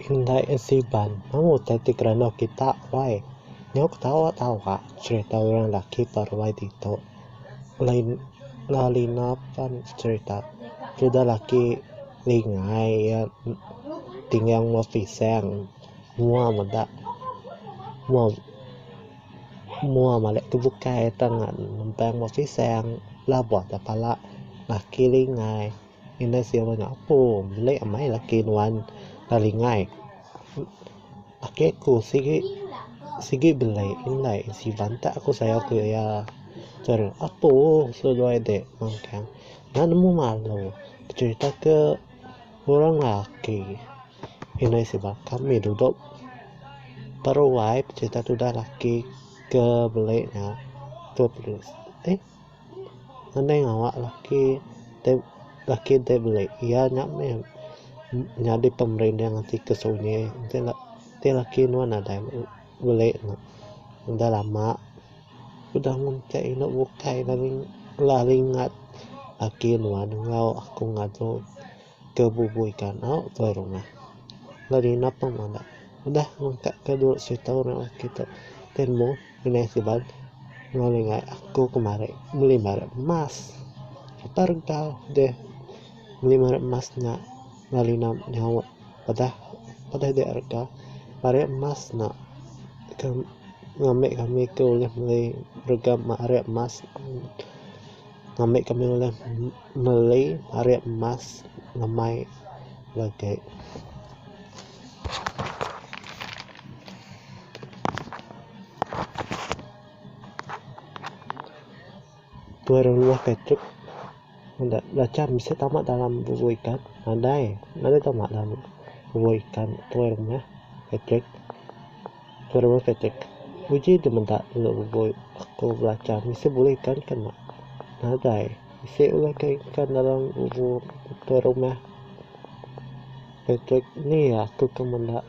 Indai a Siban. Amu utai ti kerenak kita wai. Nyau ketawa tawa cerita orang laki paruai ditu. Lain ngau lina pan cerita. Tudah laki. Ningai iya tinggal mua pisang. Mua meda mua mua malek tu bukai tan nempang mua pisang labuh aja pala laki lingai. Indah siok bak nyapu. Melik amai laki nuan enda lingai. Ake ku sigi sigi belai indai Siban ta ku sayau ku iya chara apo seduai de mangkang enda nemu malu becerita ke orang laki indai sebab kami dudok peruai becerita tudah laki ke belai nya tu eh. Nadai ngawa laki tab laki ti beli iya nya meh nyadi pemerinding ati ke sunyi enti la enti laki nuan nadai beli ne udah lama udah ngunting inu bukai laling laling ngat laki nuan enggau aku ngadu ke bubui kandau tuai rumah lalu ina pemada udah ngungkapka dulu situ nya laki tu ti mung. Inai Siban ngelingai aku kemari meli meret emas. Apai regal deh meli meret emas nya lalu ina nyaut padah padah dia regal meret emas nya ke ngambi kami ke ulih meli regal meret emas ngambi kami ulih meli meret emas ngemai legi. Tuai orang luah kai tek meda belacan bisi tama dalam bubuh ikan nadai nadai tama dalam bubuh ikan tuai rumah kai tek tuai rumah kai tek uji deh meda telo bubuh aku belacan bisi buleh ikan ka nya nadai bisi ulah kai ikan dalam bubuh tuai rumah. Patrick, Ni iya aku ke meda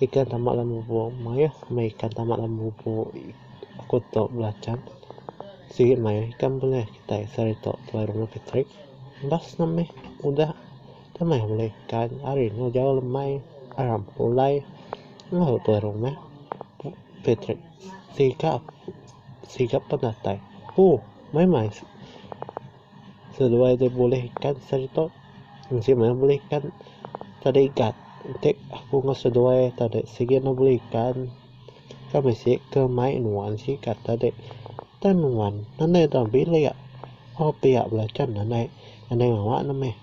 ikan tambak dalam lubok. Mayuh meh ikan tambak dalam lubok aku tu belachan. Sigi mayuh ikan bulih kitai sehari tu, tuai rumah Patrick. Imbas nya meh udah deh mayuh bala ikan. Hari eno jauh lemai aram pulai lalu tuai rumah Patrick sigap sigap pendatai. Ooh maimai. Seduai ti bulih ikan seri tu enti meh bulih ikan tadi gat enti aku meh seduai tadi sigi meh bulih ikan kan bisi ke mai nuan sigat tadi tan nuan anai dau bilik au pia bala chan anai anai mawa ne meh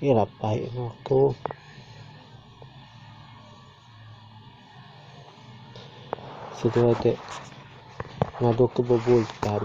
ira pai anu aku. Sida dek ngadu ke bebul tan.